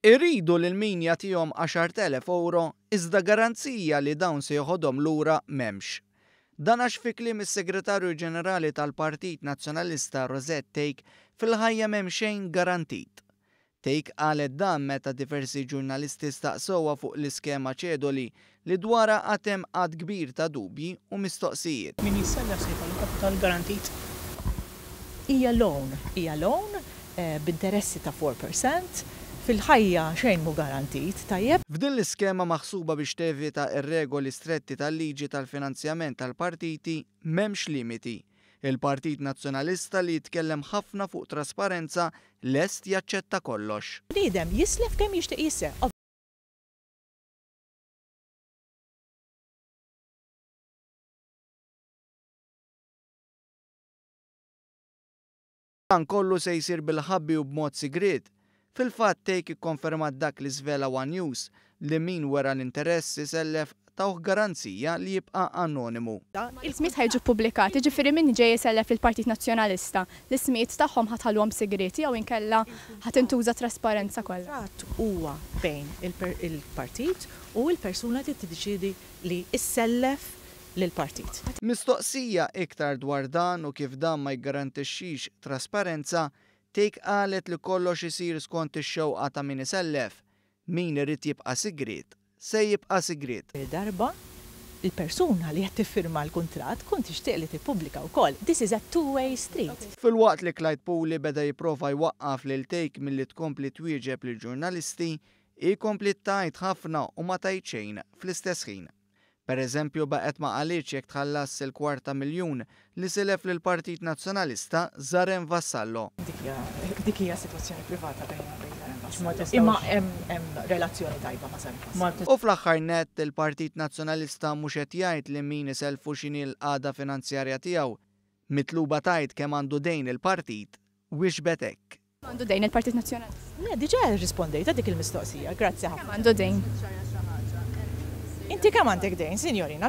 Iridu lil min jagħtihom għaxart elef ewro iżda garanzija li dawn se jeħodhom lura m'hemmx. Dan għax fi kliem is-Segretarju Ġenerali tal-Partit Nazzjonalista Rosette Take fil-ħajja m'hemm xejn garantit. Take qalet dan meta diversi ġurnalisti staqsewha fuq l-iskema Cedoli li dwarha għad hemm għadd kbir ta' dubji u mistoqsijiet. Min jissellef se jkollu kapital garantit. Hija loan, hija loan b'interessi ta' four percent. Fil-ħajja xejn mhu garantit, tajjeb? F'din l-iskema maħsuba biex tevita r-regoli stretti tal-liġi tal-finanzjament tal-partiti m'hemmx limiti. Il-Partit Nazzjonalista li jitkellem ħafna fuq trasparenza lest jaċċetta kollox. Bniedem jislef kemm jixtieq jissef. Dan kollu se jsir bil-ħabbi u b'mod sigriet. Fil-fatt Take ikkonfermat dak li żvela one News, li min wera l-interess isellef tawh garanzija li jibqa' anonimu. Il-kmiet ħa jiġu ppubblikati, jiġifieri min ġej isellef lill-Partit Nazzjonalista, L-ismijiet tagħhom ħa tħalluhom sigrieti jew inkella ħa tintuża t-trasparenza kollha? Il-kuntratt huwa bejn il-partit u l-persuna li tiddeċiedi li ssellef lill-partit. Mistoqsija iktar dwar dan u kif dan ma jiggarantixxix trasparenza, Thake qalet li kollox isir skont ix-xewqa ta' min isellef, min irid jibqa' sigriet. se jibqa' sigriet. Darba l-persuna li qed tiffirma l-kuntratt tkun tixtieq li tippubblika wkoll, this is a two way street. Filwaqt li Clyde Puli beda jipprova jwaqqaf lil Take milli tkompli twieġeb lill-ġurnalisti, hi kompliet tgħid ħafna u ma tgħid xejn fl-istess ħin. Pereżempju, baqgħet ma qalitx jekk tħallasx il-kwart ta' miljun li silef lill-Partit Nazzjonalista Zarem Vassallo. Dik hija sitwazzjoni privata bejna u bejn Zarem Vassallo. Imma hemm relazzjoni tajba ma' Zarem Vassallo. U fl-aħħar nett, il-Partit Nazzjonalista mhux qed jgħid lil min isellfu x'inhi l-qagħda finanzjarja tiegħu. Mitluba tgħid kemm għandu dejn il-partit, wieġbet hekk. Kemm għandu dejn il-Partit Nazzjonalista? Le, diġà rrispondejt għal dik il-mistoqsija. Grazzi ħafna. Kemm għandu dejn? Inti kemm għandek dejn, sinjorina?